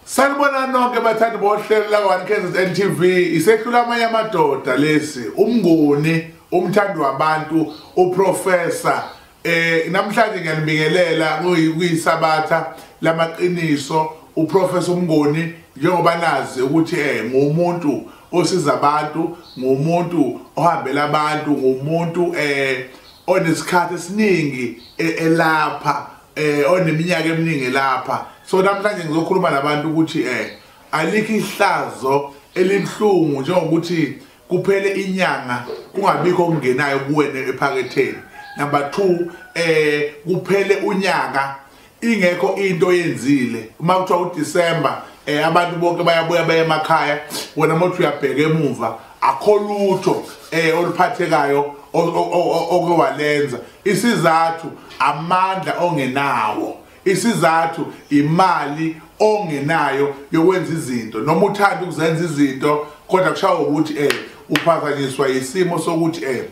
sanibona nonke bathandi bohlelo lakwa-one kzn tv isehlula amanye amadoda lesi umnguni umthandi wabantu uprofesa Eh namhlanje ngiyanibingelela kuyisabatha lamaqiniso uprofessor Mngoni njengoba nazi ukuthi eh ngumuntu osiza abantu ngumuntu ohambela abantu ngumuntu eh onesikhathi esiningi e-, elapha eh oneminyaka eminingi lapha so namhlanje ngizokhuluma nabantu ukuthi eh alikho ihlazo elibhlungu njengokuthi kuphele inyanga kungabikho okungenayo kuwena ephaketheni number 2 eh kuphele unyaka ingekho into oyenzile uma kuthiwa uDecember eh abantu bonke bayabuya baye emakhaya wena mothi uyabheka emuva akho lutho eh oluphathekayo oke walenza isizathu amandla ongenawo isizathu imali ongenayo yokwenza izinto noma uthanda ukuzenza izinto kodwa kushawa ukuthi eh uphazanyiswa isimo sokuthi eh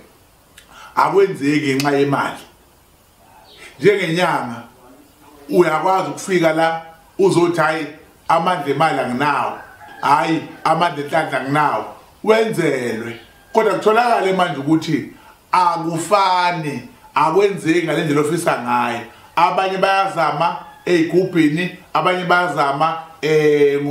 akwenzeki ngenxa yemali njengenyanga uyakwazi ukufika la uzothi hayi amandla emali anginawo hayi amandla enhlanhla anginawo wenzelwe kodwa kutholakale manje ukuthi akufani akwenzeki ngale ndlela ofisa ngayo abanye bayazama ey'gubhini abanye bayazama um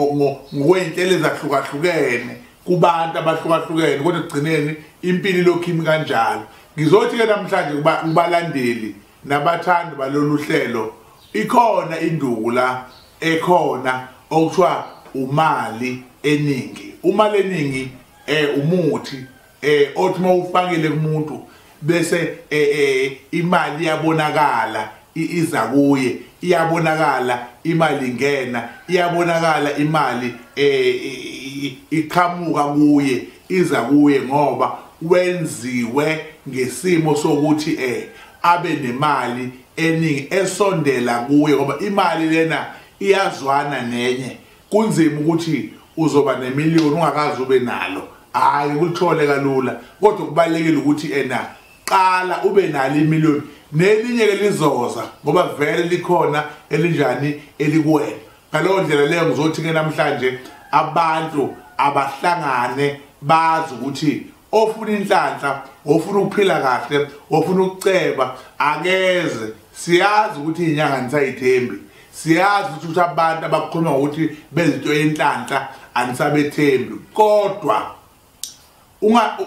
ngokwey'ntela ezahlukahlukene kubantu abahlukahlukene kodwa ekugcineni impilo ilokhu imi kanjalo ngizothi-ke namhlanje kubalandeli nabathandi balolu hlelo ikhona induku la ekhona okuthiwa umali eningi umali eningi eh umuthi eh othi mawufakile kumuntu bese eh, eh imali iyabonakala iza kuye iyabonakala imali ingena iyabonakala imali eh iqhamuka kuye iza kuye ngoba wenziwe ngesimo sokuthi eh abe nemali eningi esondela kuye ngoba imali lena iyazwana nenye Kunzima ukuthi uzoba nemiliyoni ungakaze ube nalo. Hayi kulithole kalula kodwa kubalekile ukuthi ena qala ube nalo imiliyoni nelinye ke lizoza ngoba vele likhona elinjani elikuwena. Ngaleyo ndlela leyo ngizothi ke namhlanje abantu abahlangane bazi ukuthi ofuna inhlanhla ofuna ukuphila kahle ofuna ukuceba akeze siyazi ukuthi inyanga nisayithembi siyazi ukuthi abantu abakhuluma ngokuthi bezinto yenhlanhla anisabethembi kodwa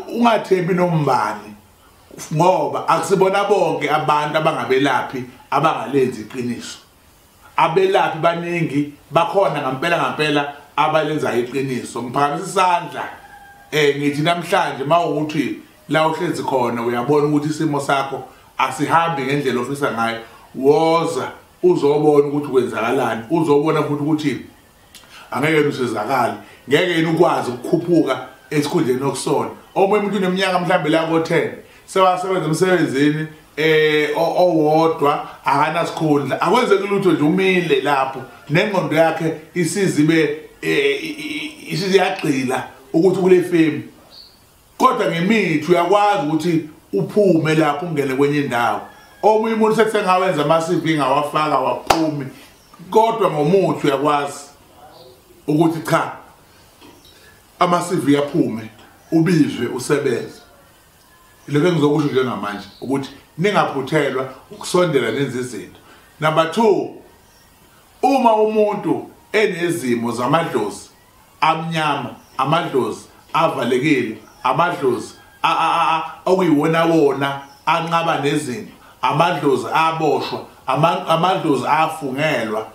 ungathembi nombani ngoba akusibona bonke abantu abangabelaphi abangalenzi iqiniso abelaphi baningi bakhona ngampela ngampela abalenzayo iqiniso ngiphakamisa isandla eh ngithi namhlanje mawukuthi la uhlezi khona uyabona ukuthi isimo sakho asihambi ngendlela ofisa ngayo woza uzobona ukuthi kwenzakalani uzobona futhi ukuthi angeke yena usizakale ngeke yena ukwazi ukukhuphuka esikhundleni okusona omunye umuntu uneminyaka mhlawumbe la ko-ten sewasebenza emsebenzini um eh, owodwa akanasikhundla akwenzeki lutho nje umile lapho nengqondo yakhe isizibe um eh, isiziyagxila ukuthi kule femu kodwa ngemithi uyakwazi ukuthi uphume lapho ungene kwenye indawo omunye umuntu sesengawenza ama-cv ngawafaka waphumi kodwa ngomuthi uyakwazi ukuthi cha ama-cv aphume ubizwe usebenze ilokho engizokusho njengamanje ukuthi ningaphuthelwa ukusondela nenza izinto number two uma umuntu enezimo zamadlozi amnyama amadlozi avalekile amadlozi okuyiwona wona anqaba nezinto amadlozi aboshwa amadlozi afungelwa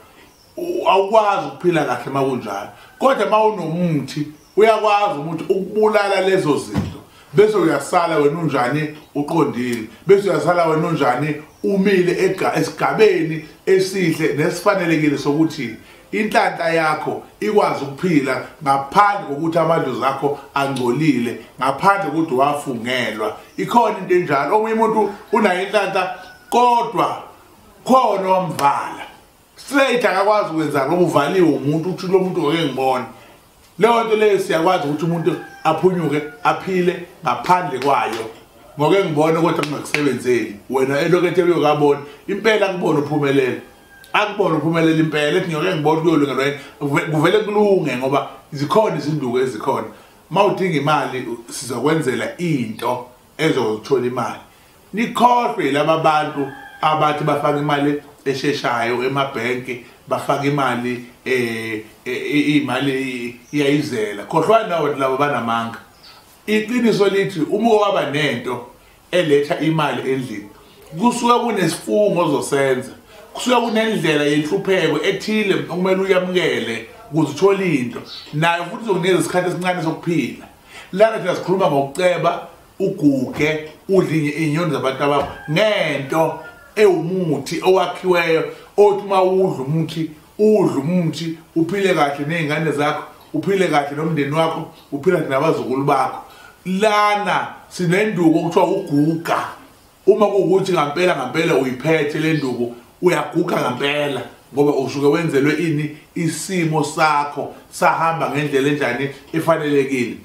awukwazi ukuphila kahle uma kunjalo kodwa uma unomuthi uyakwazi ukuthi ukubulala lezo zinto bese uyasala wena unjani uqondile bese uyasala wena unjani umile esigabeni esihle nesifanelekile sokuthi Inhlanhla yakho ikwazi ukuphila ngaphandle kokuthi amadlozi akho angcolile, ngaphandle kokuthi wafungelwa. Ikhona into enjalo, omunye umuntu unayo inhlanhla kodwa khona wamvala. Straight akakwazi ukwenza ngoba uvaliwe umuntu uthi lo muntu ngeke ngibone. leyo nto leyo siyakwazi ukuthi umuntu aphunyuke aphile ngaphandle kwayo ngoke ngibone kodwa kungakusebenzeli wena elokethe uyokabona impela kubona uphumelele akubona uphumelele impela ethi ngiyoke ngibona kuyolungelwa yini kuvele kulunge ngoba zikhona izinduku ezikhona uma udinga imali sizokwenzela into ezothola imali nikhohlwe laba bantu abathi bafaka imali esheshayo emabhenki bafaka imali um imali iyayizela khohlwani nawo labo banamanga iqiniso lithi uma waba nento eletha imali endlini kusuke kunesifungo ozosenza kusuke kunendlela yenhlupheko ethile okumele uyamukele ukuze uthole into nayo futhi uzokunikeza isikhathi esincane sokuphila lana thina sikhuluma ngokuceba uguge udlinye inyoni zabantu abakho ngento ewumuthi owakhiweyo othi uma udla umuthi udla umuthi uphile kahle ney'ngane zakho uphile kahle nomndeni wakho uphile kahle nabazukulu bakho lana sinenduku okuthiwa uguga uma kuwukuthi ngampela ngampela uyiphethe le nduku uyaguga ngampela ngoba usuke wenzelwe ini isimo sakho sahamba ngendlela enjani efanelekile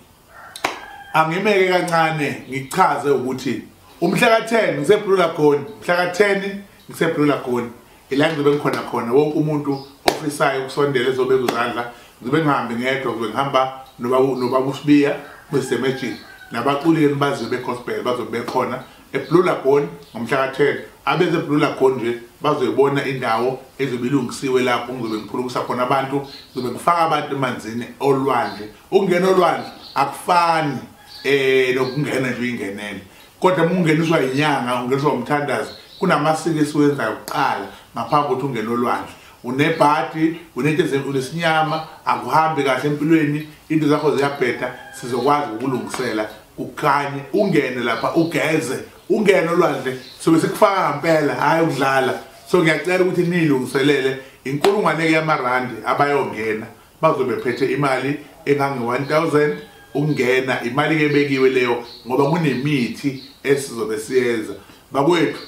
angimeke kancane ngichaze ukuthi umhla ka-10 ngiseblue lagoon mhla ka-10 ngiseblue lagoon ila ngizobe ngikhona khona wonke umuntu ofisayo ukusondela ezobeka uzandla ngizobe ngihambe ngedwa ngizobe ngihamba nobaba usibiya kwisemejini nabaculi enibaziyo begospel bazobe bekhona eblue lagoon ngomhla ka-10 abeze blue lagoon nje bazoyibona indawo ezobe ilungisiwe lapho ngizobe ngiphulukisa khona abantu ngizobe ngifaka abantu emanzini olwandle ukungena olwandle akufani eh nokungena nje uyingenele kodwa uma ungeniswa yinyanga ungeniswa umthandazo kunamasiko esiwenzayo kuqala ngaphambi kokuthi ungene olwandle unebhadi unento unesinyama akuhambi kahle empilweni into zakho ziyabheda sizokwazi ukulungisela ukhanye ungene lapha ugeze ungene olwandle sobe sikufaka ngempela hhayi ukudlala so ngiyacela ukuthi niyilungiselele inkulungwane-ke yamarandi abayongena bazobe bephethe imali engange-1000 ukungena imali ke ebekiwe leyo ngoba kunemithi esizobe siyenza bakwethu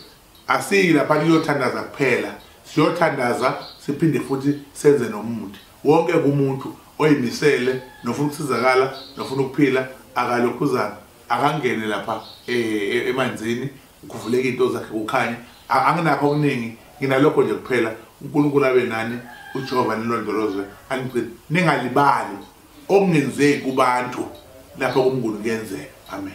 asiyi lapha kuyothandaza kuphela siyothandaza siphinde futhi senze nomuthi wonke kumuntu oyimisele nofuna ukusizakala nofuna ukuphila akalokhuzana akangene lapha eh, eh, emanzini Kuvuleke into zakhe kukhanye. Anginakho okuningi, nginalokho nje kuphela. UNkulunkulu abe nani, uJehova nilondolozwe. Anigcini. Ningalibali okungenzeki kubantu lapha kuMnguni kuyenzeka. Amen.